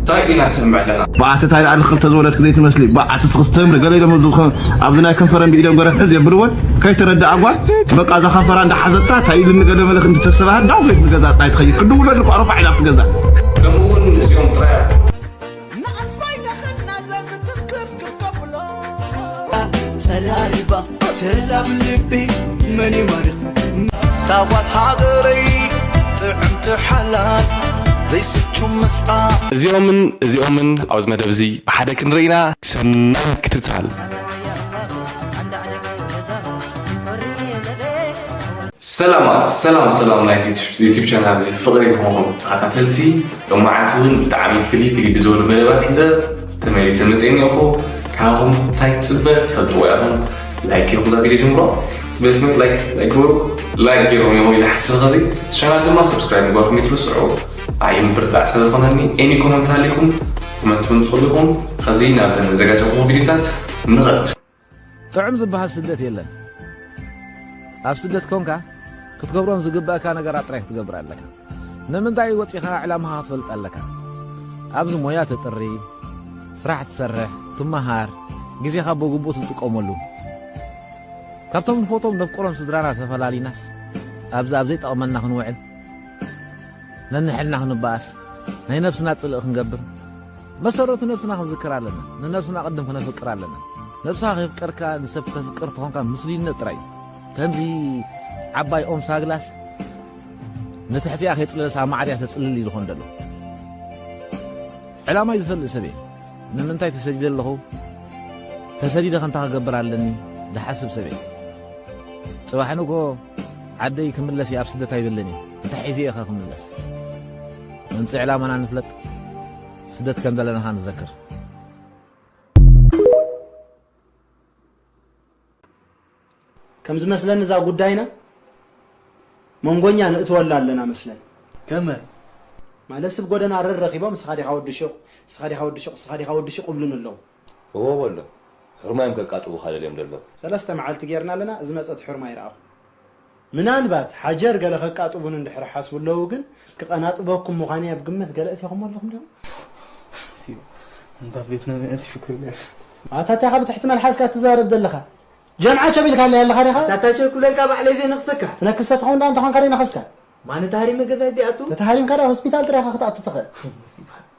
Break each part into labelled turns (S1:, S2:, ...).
S1: ታይ ኢና ንሰምዕ ለና። ባዓቲ ታይ ኣል ክልተ
S2: ዝወለድኪ ዘይትመስሊ ባዓቲ ስክስ ተምሪ ገለ ኢሎም ኣብዚ ናይ ከንፈረን ብኢዶም ገረፍ ሕዝ የብልወን ከይተረድኣ ጓል በቃ እዛ ከንፈራ እንዳሓዘታ ታይ ኢሉ ንገለ መለክ እንተተሰባሃት ዳው ቤት ንገዛ ጥራይ ትኸይድ ክድውለሉ እኮ ረፋዕ ኢላ ኣብቲ ገዛ ከምኡውን
S1: እዚኦም ጥራይ
S3: ጸራሪባ ቸላም ልቢ መን ይማርኽ ታዋት ሃገረይ ጥዕምቲ ሓላል ዘይስቹ ምስኣ እዚኦምን እዚኦምን
S1: ኣብዚ መደብ እዚ ብሓደ ክንርኢና ሰናይ ምክትታል። ሰላማት ሰላም ሰላም ናይ ዩቲብ ቻናል እዚ ፍቕሪ ዝኾንኩም ተኸታተልቲ ሎማዓንቲ እውን ብጣዕሚ ፍልይ ፍልይ ብዝበሉ መደባት ሒዘ ተመሊሰ መጽ እኒኦኹ ካብኹም እንታይ ትፅበ ትፈልጥዎ ኢኹም ላይክ ጌርኩም እዛ ቪድዮ ጀምሮ ፅበትኩም ላይክ ግበሩ ላይክ ጌሮም እዮም ኢለ ሓስብ ኸዚ ቻናል ድማ ሰብስክራይብ ምግባርኩም ይትርስዑ ኣይ ምብርታዕ ስለ ዝኾነኒ ኤኒ ኮመንት ኣሊኩም ኮመንት ውን ትኽእሉ ኢኹም ኸዚ ናብዘን ዘጋጀኹ ቪድዮታት ንኸት ጥዑም
S4: ዝበሃል ስደት የለን ኣብ ስደት ኮንካ ክትገብሮም ዝግብእካ ነገራት ጥራይ ክትገብር ኣለካ ንምንታይ ወፂኻ ዕላማኻ ክትፈልጥ ኣለካ ኣብዚ ሞያ ተጥሪ ስራሕ ትሰርሕ ትመሃር ግዜኻ ብግቡእ ትጥቀመሉ ካብቶም ንፎቶም ነፍቅሮም ስድራና ተፈላሊናስ ኣብዚ ኣብ ዘይጠቕመና ክንውዕል ነንሕልና ክንበኣስ ናይ ነብስና ጽልእ ክንገብር መሰረቱ ነብስና ክንዝክር ኣለና ንነብስና ቅድም ክነፍቅር ኣለና ነብስኻ ከይፍቀርካ ንሰብ ተፍቅር ተኾንካ ምስሉይነት ጥራይ እዩ ከምዚ ዓባይ ኦም ሳግላስ ንትሕቲኣ ከይጥለሳ ማዕርያ ተጽልል ኢሉ ኾን ደሎ ዕላማይ ዝፈልጥ ሰብ እየ ንምንታይ ተሰዲደ ኣለኹ ተሰዲደ ከንታ ክገብር ኣለኒ ዝሓስብ ሰብ እየ ጽባሕ ንጎ ዓደይ ክምለስ እየ ኣብ ስደት ኣይብልን እየ እንታይ ሒዘ እየ ክምለስ ምንፂ ዕላማና ንፍለጥ ስደት ከም ዘለናኻ ንዘክር።
S5: ከም ዝመስለኒ እዛ ጉዳይና መንጎኛ ንእትወላ ኣለና መስለን ከመ ማለት ስብ ጎደና ረር ረኺቦም እስኻ ዲኻ ወዲ ሹቕ እስኻ ዲኻ ወዲ ሹቕ እስኻ ዲኻ ወዲ ሹቕ እብሉኒ ኣለዉ። እወ በሎ
S6: ሑርማዮም ከቃጥቡኻ ደልዮም ደለዉ። ሰለስተ መዓልቲ ጌርና
S5: ኣለና ዝመጸት ሑርማ ኣይረኣኹን። ምናልባት ሓጀር ገለ ከቃጥቡኒ እንድሕር ሓስቡ ኣለዉ ግን ክቀናጥበኩም ምዃነይ ኣብ ግምት ገለ እቲኹሞ ኣለኹም ዲኹም? ሲብ ኣንታ ቬትናም እያ እቲ ፍክር ኔሩ። ኣታ ታይ ኢኻ ብትሕቲ መልሓስካ ትዛረብ ዘለኻ ጀምዓ ቸብ ኢልካለይ ኣለኻ ዲኻ? ኣታ ታይ ቸብ ክብለልካ ባዕለይ
S3: ዘይነኽሰካ። ትነክስ ተትኸውን ድኣ እንተኾንካ
S5: ደይነኸስካ። ማን እታ ሃሪመ
S3: ገዛይ ዘይኣቱ? ተተሃሪምካ ድኣ ሆስፒታል ጥራይ
S5: ኢኻ ክትኣቱ ትኽእል።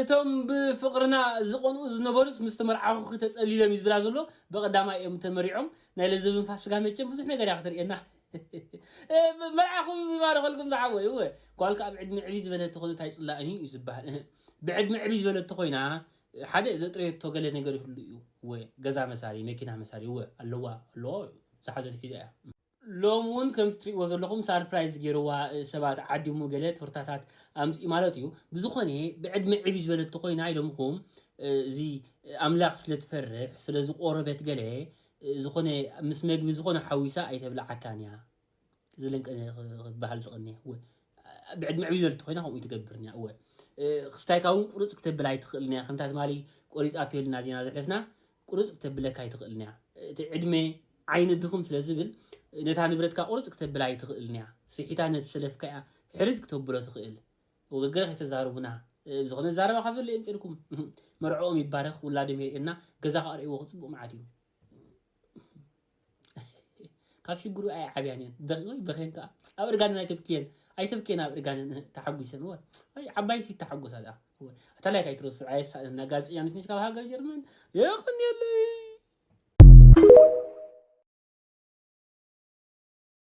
S7: እቶም ብፍቅርና ዝቀንኡ ዝነበሩስ ምስ ተመርዓኹኺ ተጸሊሎም እዩ ዝብላ ዘሎ ብቀዳማይ እዮም ተመሪዖም ናይ ለዘብን ፋስጋ መቸም ብዙሕ ነገር እያ ክተርእየና መርዓኹም ይባርኸልኩም ዝሓወይ እወ ጓል ከኣ ብዕድመ ዕብይ ዝበለት ተኾነት ኣይጽላእን እዩ ዝበሃል እህ ብዕድመ ዕብይ ዝበለት ተኾይና ሓደ ዘጥረየቶ ገለ ነገር ይህሉ እዩ እወ ገዛ መሳሪ መኪና መሳሪ እወ ኣለዋ ኣለዎ ዝሓዘት ሒዛ እያ ሎሚ ውን ከምቲ ትሪእዎ ዘለኹም ሳርፕራይዝ ጌርዋ ሰባት ዓዲሙ ገለ ቶርታታት ኣምጺኡ ማለት እዩ ብዝኾነ ብዕድመ ዕብይ ዝበለት ተኾይና ኢሎምኹም እዚ ኣምላኽ ስለ ትፈርሕ ስለ ዝቆረበት ገለ ዝኾነ ምስ መግቢ ዝኾነ ሓዊሳ ኣይተብልዓካን እያ ዝለን ክበሃል ዝቐንየ እወ ብዕድመ ዕብይ ዝበለት ተኾይና ከምኡ ትገብርን እያ እወ ክስታይካ እውን ቁርፅ ክተብል ኣይትኽእልን እያ ከምታ ትማሊ ቆሪፃቶ ኢልና ዜና ዘሕለፍና ቁርጽ ክተብለካ ኣይትኽእልን እያ። እቲ ዕድመ ዓይኒ ድኽም ስለ ዝብል ነታ ንብረትካ ቁርጽ ክተብላ ኣይትኽእልን እያ። ስሒታ ነቲ ሰለፍካ እያ ሕርድ ክተብሎ ትኽእል። ወገገረ ከይተዛርቡና ዝኾነ ዛረባ ካብ ዘሎ የምፅልኩም መርዕኦም ይባረኽ ውላዶም የርእየና ገዛ ክኣርእይዎ ክፅቡቅ መዓት እዩ ካብ ሽግሩ ኣይዓብያን እየን ደቂቆይ በኼን ከዓ ኣብ እርጋንን ኣይተብክየን ኣይተብክየን ኣብ እርጋንን ተሓጒሰን ወ ኣይ ዓባይ ሲ ተሓጎሳ ድኣ ኣታላይ ካይትረሱ ኣየሳእነና ጋዜጠኛ ነሽ ነሽ ካብ ሃገር ጀርመን የቕንየለይ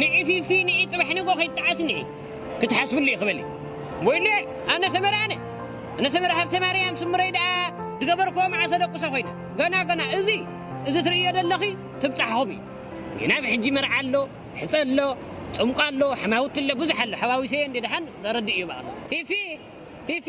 S8: ንዒ ፊፊ ንዒ ጽባሕ ንግሆ ከይጠዓስ ንዒ ክትሓስብሉ ኢኪ በሊ ወይልዕ ኣነ ሰመረ ኣነ ኣነ ሰመረ ሃብተማርያም ስምረይ ደኣ ዝገበርክዎ መዓሰ ደቁሰ ኮይነ ገና ገና እዚ እዚ ትርእዮ ዘለኺ ትብጻሕኹም እዩ ጌና ብ ሕጂ መርዓ ኣሎ ሕጸ ኣሎ ጽምቋ ኣሎ ሕማውቲ ኣሎ ብዙሕ ኣሎ ሓዋዊሰየ እንዴ ደሓን ዘረድእ እዩ ባቕላ ፊፊ ፊፊ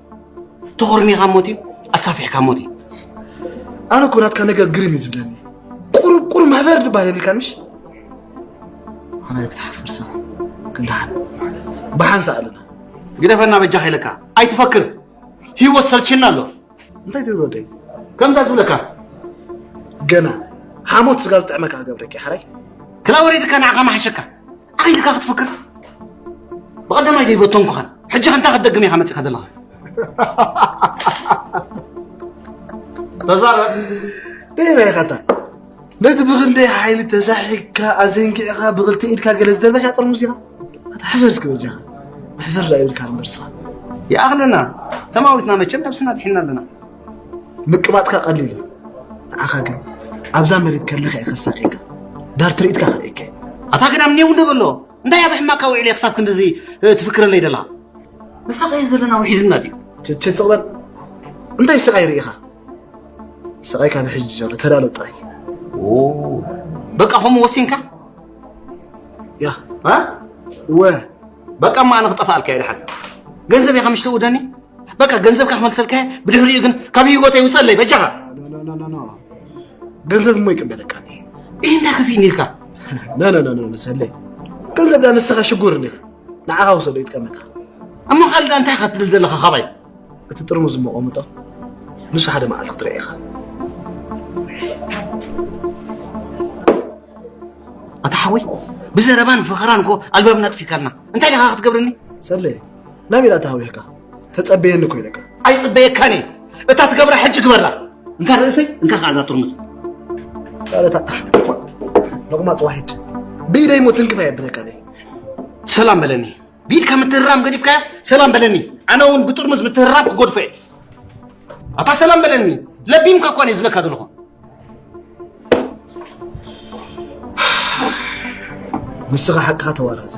S5: ተኾርሚኻ ሞት እዩ ኣሳፊሕካ ሞት እዩ ኣነ እኮ ናትካ ነገር ግርም እዩ ዝብለኒ ቁሩብ ቁሩብ ማህበር ድባል የብልካን ምሽ ኣነ ክትሓፍር ሰብ ክንደሓን ብሓንሳ ኣለና ግደፈና በጃኻ ኢለካ ኣይትፈክር ህይወት ሰልችና ኣሎ እንታይ ትብል ወደይ ከምዛ ዝብለካ ገና ሓሞት ስጋ ዝጥዕመካ ገብረኪ ሓራይ ክላ ወሪድካ ንዓኻ መሓሸካ ኣይ ኢልካ ክትፍክር ብቐዳማይ ደይ በተንኩኸን ሕጂ ከ እንታይ ክትደግም ኢኻ መፂኻ ዘለኻ ተዛረብ ደይና ኢኻታ ነቲ ብክንደይ ሓይሊ ተሳሒግካ ኣዘንጊዕኻ ብክልተ ኢድካ ገለ ዝደርበካ ጥርሙዝ ኢኻ ኣታ ሕፈር እስኪ በጃኻ መሕፈር ዳ ይብልካ እምበርስኻ ይኣኽለና ተማዊትና መቸም ነብስና ድሒና ኣለና ምቅባጽካ ቀሊል እዩ ንዓኻ ግን ኣብዛ መሬት ከለኻ እየ ከሳቂካ ዳር ትርኢትካ ከርእየካ እዩ ኣታ ግዳም ኔው ንበሎ እንታይ ኣብ ሕማካ ውዒለ ክሳብ ክንድዚ እ፣ ትፍክረለይ ደላ ንሳኸየ ዘለና ውሒድና ድዩ ቸቸ ጽቕበል እንታይ ስቓይ ርኢኻ ስቓይካ ብሕጂ ዘሎ ተዳሎ ጥራይ በቃ ከምኡ ወሲንካ ያ ወ በቃ እሞ ኣነ ክጠፋኣልካ እየ ድሓን ገንዘብ ኢኻ ምሽተ ውደኒ በቃ ገንዘብካ ክመልሰልካ እየ ብድሕሪኡ ግን ካብ ህይወተይ ውፀለይ በጃኻ ገንዘብ እሞ ይቅበለካ ይህ እንታይ ከፊእኒ ኢልካ ነነነነ ሰለይ ገንዘብ ዳ ንስኻ ሽጉር እኒኻ ንዓኻ ውሰዶ ይጥቀመካ እሞ ካልእ እንታይ ኢኻ ትብል ዘለኻ ካባይ እቲ ጥርሙዝ ዝመቐምጦ ንሱ ሓደ መዓልቲ ክትርአ ኢኻ ኣታ ሓወይ ብዘረባን ፈኸራን እኮ ኣልባብና ጥፊካልና እንታይ ደኻ ክትገብርኒ ሰለየ ናበይ ዳኣ ተሃዊኽካ ተጸበየኒ እኮ ኢለካ ኣይጽበየካን እየ እታ ትገብራ ሕጂ ግበራ እንካ ርእሰይ እንካ ከዓ እዛ ጥርሙዝ ቃለታ ሎቕማፅ ዋሒድ ብኢደይ
S9: ሞ ትንክፍ ኣየብለካ ሰላም በለኒ ብኢድካ ምትህራም ገዲፍካዮ ሰላም በለኒ ኣነ እውን ብጥርሙዝ ምትህራም ክጎድፎ እየ ኣታ ሰላም በለኒ ለቢምካ እኳ እየ ዝብለካ ዘለኹ ንስኻ ሓቅኻ ተዋራዘ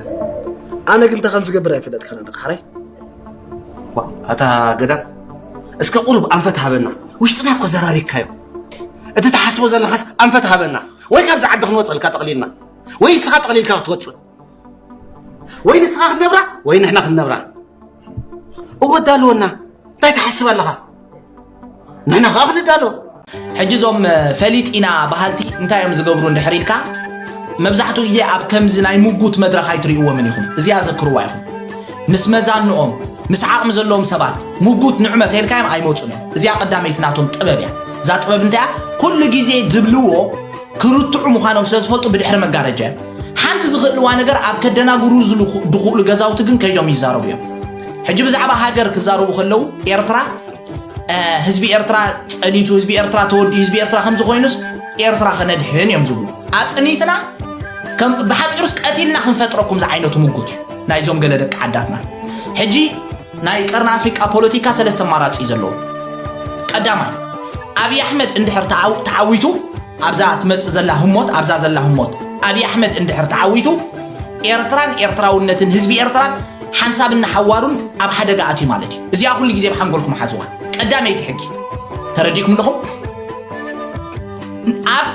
S9: ኣነ ግን እንታይ ከም ዝገብር ኣይፈለጥካን ኣለካ ሓራይ ኣታ ገዳም እስከ ቁሩብ ኣንፈት ሃበና ውሽጥና እኮ ዘራሪካዮ እቲ ትሓስቦ ዘለኻስ ኣንፈት ሃበና ወይ ካብዚ ዓዲ ክንወፀልካ ጠቕሊልና ወይ እስኻ ጠቕሊልካ ክትወፅእ ወይ ንስኻ ክትነብራ ወይ ንሕና ክንነብራ እወ ዳልወና እንታይ ትሓስብ ኣለኻ ንሕና ከዓ ክንዳሎ ሕጂ እዞም
S10: ፈሊጥ ኢና በሃልቲ እንታይ እዮም ዝገብሩ እንድሕር ኢልካ መብዛሕትኡ ግዜ ኣብ ከምዚ ናይ ምጉት መድረኽ ኣይትርእይዎምን ኢኹም እዚኣ ዘክርዋ ኢኹም ምስ መዛንኦም ምስ ዓቕሚ ዘለዎም ሰባት ምጉት ንዕመ ተልካዮም ኣይመፁን እዮም እዚኣ ቀዳመይቲ ናቶም ጥበብ እያ እዛ ጥበብ እንታይ እያ ኩሉ ግዜ ዝብልዎ ክርትዑ ምዃኖም ስለ ዝፈልጡ ብድሕሪ መጋረጃ እዮም ሓንቲ ዝኽእልዋ ነገር ኣብ ከደናግሩ ዝኽእሉ ገዛውቲ ግን ከይዶም ይዛረቡ እዮም ሕጂ ብዛዕባ ሃገር ክዛረቡ ከለዉ ኤርትራ ህዝቢ ኤርትራ ጸኒቱ ህዝቢ ኤርትራ ተወዲ ህዝቢ ኤርትራ ከምዚ ኮይኑስ ኤርትራ ከነድሕን እዮም ዝብሉ ኣጽኒትና ብሓፂሩስ ቀቲልና ክንፈጥረኩም ዝዓይነቱ ምጉት እዩ ናይዞም ገለ ደቂ ዓዳትና ሕጂ ናይ ቀርኒ ኣፍሪቃ ፖለቲካ ሰለስተ ኣማራጺ እዩ ዘለዎ። ቀዳማይ ኣብዪ ኣሕመድ እንድሕር ተዓው- ተዓዊቱ ኣብዛ ትመጽእ ዘላ ህሞት ኣብዛ ዘላ ህሞት ኣብዪ ኣሕመድ እንድሕር ተዓዊቱ ኤርትራን ኤርትራውነትን ህዝቢ ኤርትራን ሓንሳብን ንሓዋሩን ኣብ ሓደጋ ኣትዩ ማለት እዩ። እዚኣ ኩሉ ግዜ ኣብ ሓንጎልኩም ሓዝዋ። ቀዳመይቲ ሕጊ ተረዲእኩም ኣለኹም? ኣብ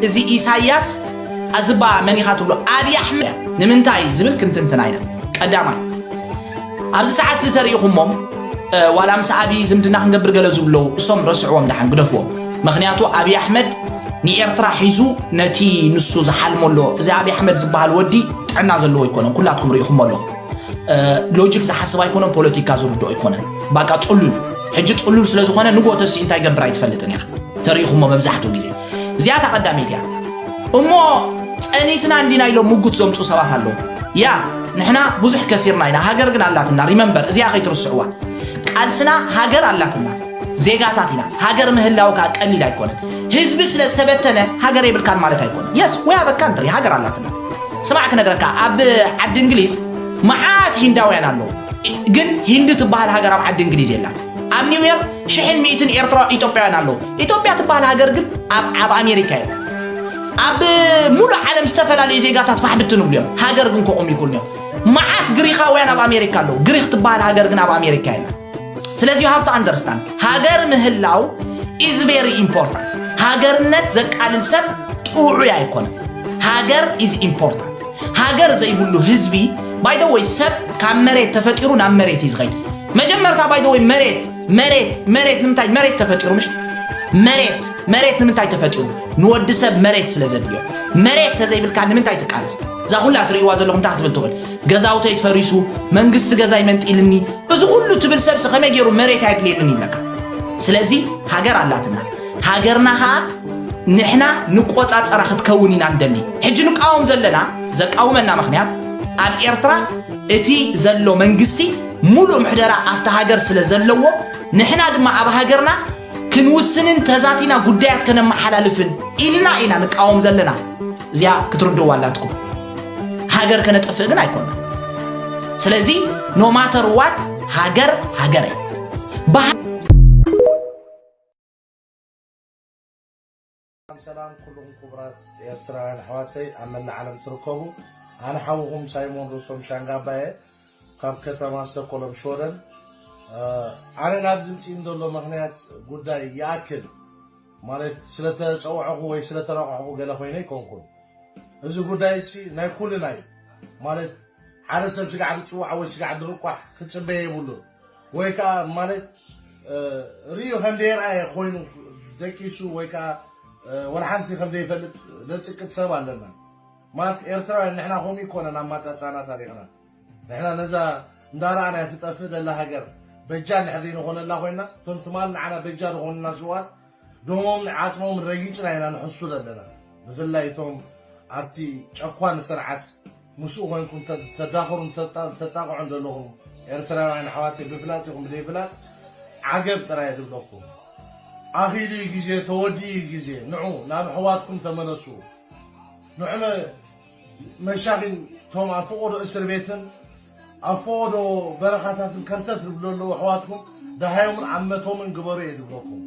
S10: እዚ ኢሳያስ ኣዝባ መን ኢኻ ትብሎ ኣብዪ ኣሕመድ እያ። ንምንታይ ዝብል ክንትንትና ኢና። ቀዳማይ ኣብዚ ሰዓት እዚ ተሪኢኹሞም ዋላ ምስ ኣብዪ ዝምድና ክንገብር ገለ ዝብለው እሶም ረስዕዎም ደሓን ግደፍዎም ምክንያቱ ኣብዪ ኣሕመድ ንኤርትራ ሒዙ ነቲ ንሱ ዝሓልሞ ኣሎ እዚ ኣብዪ ኣሕመድ ዝበሃል ወዲ ጥዕና ዘለዎ ኣይኮነን ኩላትኩም ርኢኹሞ ኣለኹም ሎጂክ ዝሓስብ ኣይኮነን ፖለቲካ ዝርድኦ ኣይኮነን ባቃ ፅሉል ሕጂ ፅሉል ስለ ዝኾነ ንጎተሲ እንታይ ገብር ኣይትፈልጥን ኢኻ ተሪኢኹሞ መብዛሕትኡ ግዜ እዚኣ እታ ቀዳመይቲ እያ እሞ ጸኒትና እንዲና ኢሎም ምጉት ዘምፁ ሰባት ኣለዉ ያ ንሕና ብዙሕ ከሲርና ኢና ሃገር ግን ኣላትና ሪመምበር እዚኣ ከይትርስዕዋ ቃልስና ሃገር ኣላትና ዜጋታት ኢና ሃገር ምህላው ከዓ ቀሊል ኣይኮነን ህዝቢ ስለ ዝተበተነ ሃገር የብልካን ማለት ኣይኮነን የስ ወይ ኣበካ እንትሪ ሃገር ኣላትና ስማዕ ክነግረካ ኣብ ዓዲ እንግሊዝ መዓት ሂንዳውያን ኣለዉ ግን ሂንዲ ትበሃል ሃገር ኣብ ዓዲ እንግሊዝ የላን ኣብ ኒውዮርክ ሽሕን ሚእትን ኤርትራ ኢትዮጵያውያን ኣለዉ። ኢትዮጵያ ትበሃል ሃገር ግን ኣብ ኣብ ኣሜሪካ እዮም። ኣብ ሙሉእ ዓለም ዝተፈላለዩ ዜጋታት ፋሕ ብትን እብሉ እዮም። ሃገር ግን ከቑም ይኩን እዮም። መዓት ግሪኻውያን ኣብ ኣሜሪካ ኣለዉ። ግሪኽ ትበሃል ሃገር ግን ኣብ ኣሜሪካ የለን። ስለዚ ዩ ሃፍቱ ኣንደርስታንድ ሃገር ምህላው ኢዝ ቬሪ ኢምፖርታንት። ሃገርነት ዘቃልል ሰብ ጥዑይ ኣይኮነን። ሃገር ኢዝ ኢምፖርታንት። ሃገር ዘይብሉ ህዝቢ ባይ ዘ ወይ ሰብ ካብ መሬት ተፈጢሩ ናብ መሬት እዩ ዝኸይድ መጀመርታ ባይ ዘ ወይ መሬት መሬት መሬት ንምንታይ መሬት ተፈጢሩ ምሽ መሬት መሬት ንምንታይ ተፈጢሩ ንወዲ ሰብ መሬት ስለ ዘድልዮ መሬት ተዘይብልካ ንምንታይ ትቃለስ እዛ ኩላ ትርእይዋ ዘለኹም እንታይ ክትብል ትኽእል ገዛውተይ ተፈሪሱ መንግስቲ ገዛይ መንጢልኒ እዚ ኩሉ ትብል ሰብሲ ከመይ ገይሩ መሬት ኣየድልየንን ይብለካ ስለዚ ሃገር ኣላትና ሃገርና ከኣ ንሕና ንቆጻጸራ ክትከውን ኢና ንደሊ። ሕጂ ንቃወም ዘለና ዘቃውመና ምክንያት ኣብ ኤርትራ እቲ ዘሎ መንግስቲ ሙሉእ ምሕደራ ኣብቲ ሃገር ስለ ዘለዎ ንሕና ድማ ኣብ ሃገርና ክንውስንን ተዛቲና ጉዳያት ከነመሓላልፍን ኢልና ኢና ንቃወም ዘለና። እዚኣ ክትርድእዋ ኣላትኩም። ሃገር ከነጥፍእ ግን ኣይኮና። ስለዚ ኖማተር ዋት ሃገር ሃገር እያ።
S11: ሰላም ሰላም ኩሉኹም ኩቡራት ኤርትራውያን ኣሕዋተይ ኣብ መላእ ዓለም ትርከቡ ኣነ ሓውኹም ሳይሞን ሩሶም ሻንጋባ እየ ካብ ከተማ ስተኮሎም ሽወደን ኣነ ናብ ዝምፅእን ዘሎ ምክንያት ጉዳይ ይኣክል ማለት ስለተፀውዐኹ ወይ ስለተረቋሕኹ ገለ ኮይነ ይኮንኩን እዚ ጉዳይ እሲ ናይ ኩልና እዩ ማለት ሓደ ሰብ ስጋዕ ዝፅዋዕ ወይ ስጋዕ ዝርቋሕ ክፅበየ የብሉን ወይ ከኣ ማለት ርእዩ ከም ዘይረኣየ ኮይኑ ደቂሱ ወይ ከኣ ወላ ሓንቲ ከም ዘይፈልጥ ዘጽቅጥ ሰብ ኣለና ማለት ኤርትራውያን ንሕና ከምኡ ኣይኮነን ኣማጻጽኣና ታሪኽና ንሕና ነዛ እንዳረኣናያ ትጠፍእ ዘላ ሃገር በጃ እንድሕር ዘይንኾነላ ኮይና እቶም ትማል ንዓና በጃ ዝኾኑና ስውኣት ደሞም ን ዓጽሞምን ረጊጽና ኢና ንሕሱ ዘለና ብፍላይ እቶም ኣብቲ ጨኳኒ ስርዓት ምስኡ ኮንኩም ተዳኽሩን ተጣቕዑን ዘለኹም ኤርትራውያን ኣሕዋተይ ብፍላጥ ይኹን ብደይ ፍላጥ ዓገብ ጥራይ ዝብለኩም ኣኺሉ እዩ ግዜ ተወዲኡ እዩ ግዜ ንዑ ናብ ኣሕዋትኩም ተመለሱ ንዑ መሻኺን እቶም ኣብ ፈቖዶ እስርቤትን ኣብ ፈቖዶ በረኻታትን ከርተት ዝብሉ ዘለዉ ኣሕዋትኩም ደሃዮምን ዓመቶምን ግበሩ እየ ዝብለኩም።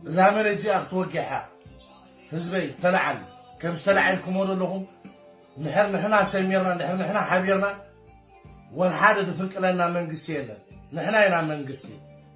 S11: እዛ መሬት እዚኣ ክትወግሕ እያ። ህዝበይ ተላዓል ከምዚ ተላዒልኩሞ ዘለኹም ንሕር ንሕና ሰሚርና ንሕር ንሕና ሓቢርና ወልሓደ ዝፍንቅለና መንግስቲ የለን ንሕና ኢና መንግስቲ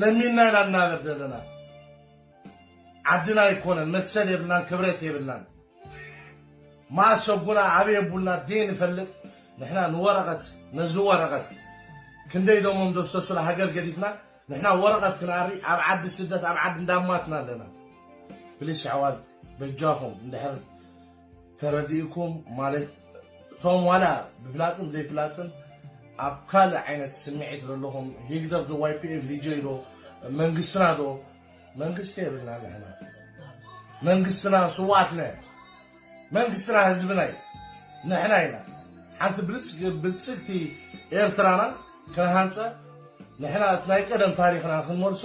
S11: ለሚንና ኢና ንናበር ዘለና ዓድና ኣይኮነን መሰል የብልናን ክብረት የብልናን ማእስ ኣቡና ኣበይ ኣቡና ደይ ንፈልጥ ንሕና ንወረቐት ነዚ ወረቐት ክንደይ ደሞም ደፍሰሱላ ሃገር ገዲፍና ንሕና ወረቐት ክንኣሪ ኣብ ዓዲ ስደት ኣብ ዓዲ እንዳማትና ኣለና ፕሊስ ኣሕዋት በጃኹም እንድሕር ተረዲኡኩም ማለት እቶም ዋላ ብፍላጥን ብዘይፍላጥን ኣብ ካልእ ዓይነት ስምዒት ዘለኹም ሂግደፍ ዶ ዋይፒኤፍ ዲጀይ ዶ መንግስትና ዶ መንግስቲ የብልና ንሕና መንግስትና ስዋኣትና መንግስትና ህዝብና እዩ ንሕና ኢና ሓንቲ ብልፅግቲ ኤርትራና ክንሃንፀ ንሕና እቲ ናይ ቀደም ታሪኽና ክንመልሶ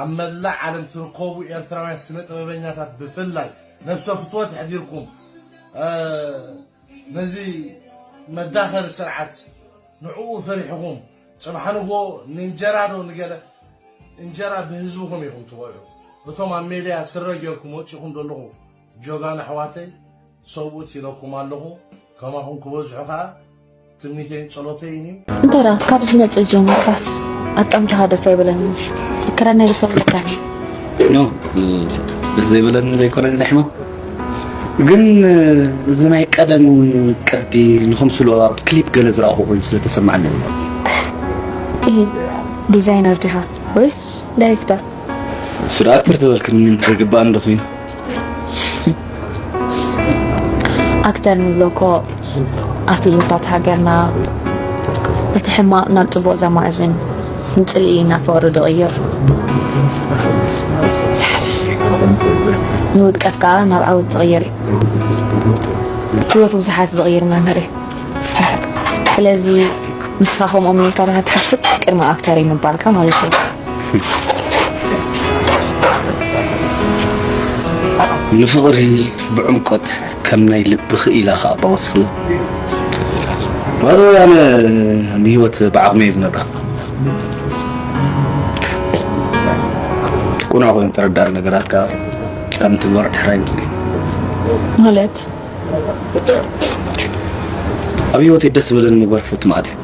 S11: ኣብ መላእ ዓለም ትርከቡ ኤርትራውያን ስነ ጥበበኛታት ብፍላይ ነብሰ ፍትወት ኣሕዲርኩም ነዚ መዳኸሪ ስርዓት ንዕኡ ፈሪሕኹም ጽባሕ ንግሆ ንእንጀራ ዶ ንገለ እንጀራ ብህዝብኹም ኢኹም ትበልዑ እቶም ኣብ ሜድያ ስረ ጌርኩም ወጺኹም ዘለኹ ጆጋኑ ኣሕዋተይ ሰብኡት ኢለኩም ኣለኹ ከማኹም ክበዝሑ ከኣ ትምኒተይን ጸሎተይን እዩ። እንተ ካብ
S12: ዝመፅእ ጀምርካስ ኣጣምታኻ ደስ ኣይበለንን ክረ ናይ ሰብ ለካኒ
S13: ደስ ዘይበለኒ ዘይኮነ ንሕሞ ግን እዚ ናይ ቀደም ቅዲ ንክምስሎ ኣብ ክሊፕ ገለ ዝረኣኹ ኮይኑ ስለተሰማዕኒ
S12: ዲዛይነር ዲኻ ወይስ ዳይሬክተር ስርዓት
S13: ተርተበልክን ዘይግባእ እንዶ ኮይኑ
S12: ኣክተር ንብሎ እኮ ኣብ ፊልምታት ሃገርና እቲ ሕማቕ ናብ ፅቡቕ ዘማእዝን ንፅልኢ እናፈሩ ዝቕይር ንውድቀት ከዓ ናብ ዓወት ዝቕይር እዩ ህይወት ብዙሓት ዝቕይር መምህር እዩ ስለዚ ንስኻ ከምኦም ኢልካ ትሓስብ ቅድሚ ኣክተር እዩ ምባልካ ማለት እዩ
S13: ንፍቕሪ ብዕምቆት ከም ናይ ልቢ ክኢላ ከዓ ባወስኽላ ባይዘወይ ኣነ ንሂወት ብዓቕመ እየ ዝነብራ ቁኑዕ ኮይኑ ተረዳእ ነገራት ከዓ ካብ ምትግባር ድሕር ኣይብል
S12: ማለት
S13: ኣብ ሂወተይ ደስ ዝበለኒ ምግባር ክፈቱ ማለት እዩ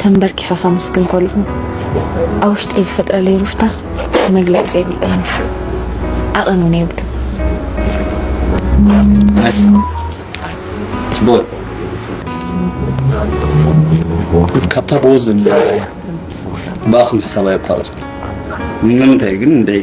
S12: ተንበርኪኸ ከምስግን ከልኹ ኣብ ውሽጠይ ዝፈጥረለይ ሩፍታ መግለፂ የብለይን ዓቐን እውን
S13: የብሉ ካብታ ብወዝ ብኣኹም ሕሳብ ኣየቋርፁ ንምንታይ ግን እንደይ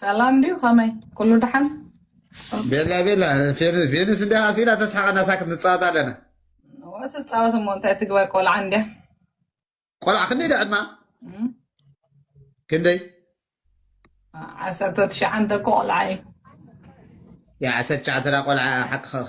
S14: ሰላም ድዩ ከመይ ኩሉ ደሓን ቤላ
S2: ቤላ ፌንስ እንዲ ሃሲላ ተስሓቀና ሳክት ንፃወት ኣለና ትፃወት
S14: እሞ እንታይ ትግበር ቆልዓ እንዲያ
S2: ቆልዓ ክንደይ ዳ ዕድማ ክንደይ
S14: ዓሰርተ ትሽዓንተ እኮ ቆልዓ እዩ
S2: ዓሰርተ ትሽዓንተ ቆልዓ ሓቂ ኸኺ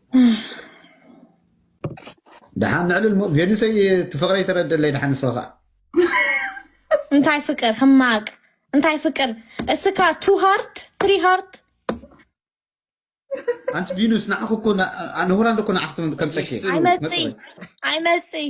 S2: ደሓን ንዕልል ሞ ቬኑሰይ ትፍቕረይ ተረደለይ ደሓን ንስኻ ከዓ
S12: እንታይ ፍቅር ሕማቅ እንታይ ፍቅር እስካ ቱ ሃርት ትሪ ሃርት
S2: ኣንቲ ቪኑስ ንዓኹ እኮ ንሁራንዶ እኮ ንዓኹ ከምፀኪ ኣይመፅእ
S12: ኣይመፅእ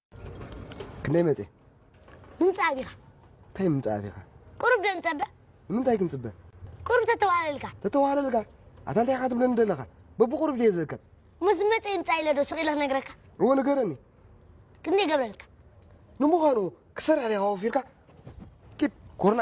S15: ክንደይ መፅእ ምምፃእ ኣቢኻ
S16: እንታይ
S15: ምምፃእ ኣቢኻ ቁሩብ ዶ ንፀበ
S16: ንምንታይ ክንፅበ
S15: ቁሩብ ተተዋህለልካ
S16: ተተዋህለልካ ኣታ እንታይ ኢኻ
S15: ትብለኒ ዘለኻ በብቁሩብ ድየ ዝእከብ ምስ መፀ ይምፃእ
S16: ኢለ ዶ ስቕ ኢለ ክነግረካ እዎ ንገረኒ
S15: ክንደይ
S16: ገብረልካ ንምዃኑ
S15: ክሰርሕ ዲኻ ወፊርካ ኪድ ኮርና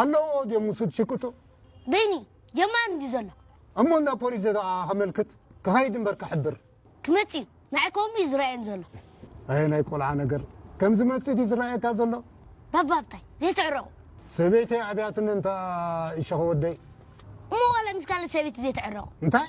S17: ኣለዎ ድዮም ውሱድ ሽቅጡ? በይኑ
S16: ጀማሪ እንድዩ ዘሎ። እሞ እንዳ ፖሊስ
S17: ዘደኣ ከመልክት ክኸይድ እምበር ክሕብር። ክመጽእ እዩ
S16: ንዓይ ከምኡ እዩ ዝረኣየኒ ዘሎ። ኣየ ናይ ቆልዓ
S17: ነገር ከም ዝመጽእ ድዩ ዝረኣየካ ዘሎ? ባባ ሃብታይ
S16: ዘይትዕረቑ። ሰበይተይ
S17: ኣብያትኒ እንተ ኢሸኺ ወደይ። እሞ ዋላ
S16: ምስ ካልእ ሰበይቲ ዘይትዕረቑ። እንታይ?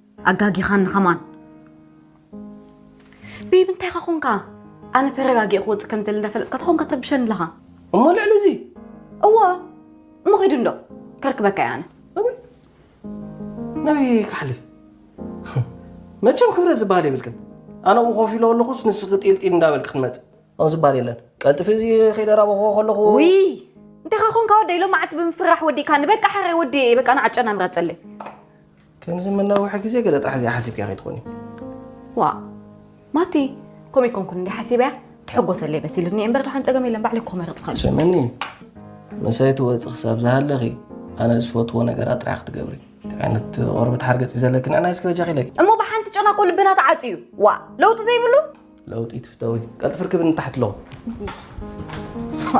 S12: ኣጋጊኻኒ ከማን ቤቢ እንታይ ኻ ኮንካ ኣነ ተረጋጊእ ክወፅእ ከም ደሊ እንዳፈለጥካ ተኾንካ ተርብሸኒ ኣለኻ እሞ ልዕሊ እዚ
S9: እወ
S12: እሞ ኸይዱ እንዶ ከርክበካ እየ ኣነ
S9: ኣበይ ናበይ ክሓልፍ መቸም ክብረ ዝበሃል የብልክን ኣነ ኣብኡ ኮፍ ኢሎ ኣለኹስ ንስኺ ጢልጢል እንዳበልክ ክትመፅእ ኣብ ዝበሃል የለን ቀልጥፊ እዚ ከይደራበኹ ከለኹ ውይ እንታይ
S12: ኻ ኮንካ ወደይ ሎማዓልቲ ብምፍራሕ ወዲእካኒ በቃ ሓራይ ወዲእ እየ በቃ ንዓጨና ምራፀለይ ከምዚ
S9: መናውሒ ግዜ ገለ ጥራሕ እዚኣ ሓሲብካያ ከይትኾኒ።
S12: ዋእ ማቲ ከምኡ ኣይኮንኩን እንዲ ሓሲበያ ትሕጎሰለይ መሲሉኒ እምበር ድሓን ፀገም የለን ባዕለይ እኮ መረፅኻሉ። ስምዕኒ
S9: ምሳይ ትወፂ ክሳብ ዝሃለኺ ኣነ ዝፈትዎ ነገራት ጥራሕ ክትገብሪ እንታይ ዓይነት ቆርበት ሓርገፅ እዩ ዘለኪ ንዕናይ እስኪ በጃኺ ኢለኪ እሞ ብሓንቲ ጨናቆ
S12: ልብና ተዓፅዩ ዋ ለውጢ ዘይብሉ ለውጢ ትፍተዊ
S9: ቀልጥፍ ርክብ ንታሕት ኣለኹ ዋ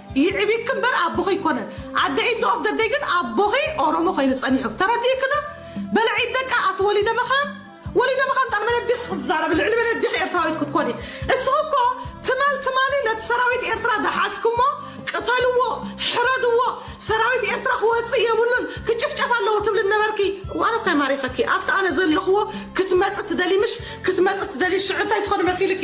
S18: ይዕቢኪ እምበር ኣቦኺ ኣይኮነን ኣደ ኢንድ ኦፍ ዘ ደይ ግን ኣቦኺ ኦሮሞ ኮይኑ ጸኒሑ ተረዲእኪ ዶ በለ ዒድ ደቃ ኣቲ ወሊደ መኻን ወሊደ መኻን ጣል መነዲኺ ክትዛረቢ ልዕሊ መነዲኺ ኤርትራዊት ክትኮኒ እስኺ እኮ ትማል ትማሊ ነቲ ሰራዊት ኤርትራ ዝሓዝኩሞ ቅተልዎ ሕረድዎ ሰራዊት ኤርትራ ክወጽእ የብሉን ክጭፍጨፍ ኣለዎ ትብሊ ነበርኪ ዋን እኳ ማሪኸኪ ኣብቲ ኣነ ዘለኽዎ ክትመጽ ትደሊ ምሽ ክትመጽ ትደሊ ሽዑ እንታይ ትኾኒ መሲልኪ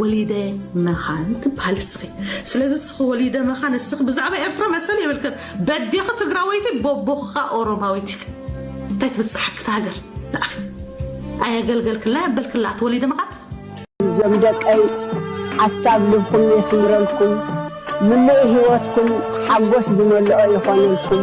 S18: ወሊደ መኻን ትብሃሊ እስኺ ስለዚ እስኺ ወሊደ መኻን እስኺ ብዛዕባ ኤርትራ መሰል የብልክን በዴኺ ትግራወይቲ ቦቦኽኻ ኦሮማዊት ኢኺ እንታይ ትብጽሓኪ ትሃገር ንኣኺ ኣየገልገልክላ የበልክላ ተወሊደ መኻን እዞም
S19: ደቀይ ሓሳብ ልብኩም የስምረልኩም ምሉእ ህይወትኩም ሓጎስ ዝመልኦ ይኾነልኩም።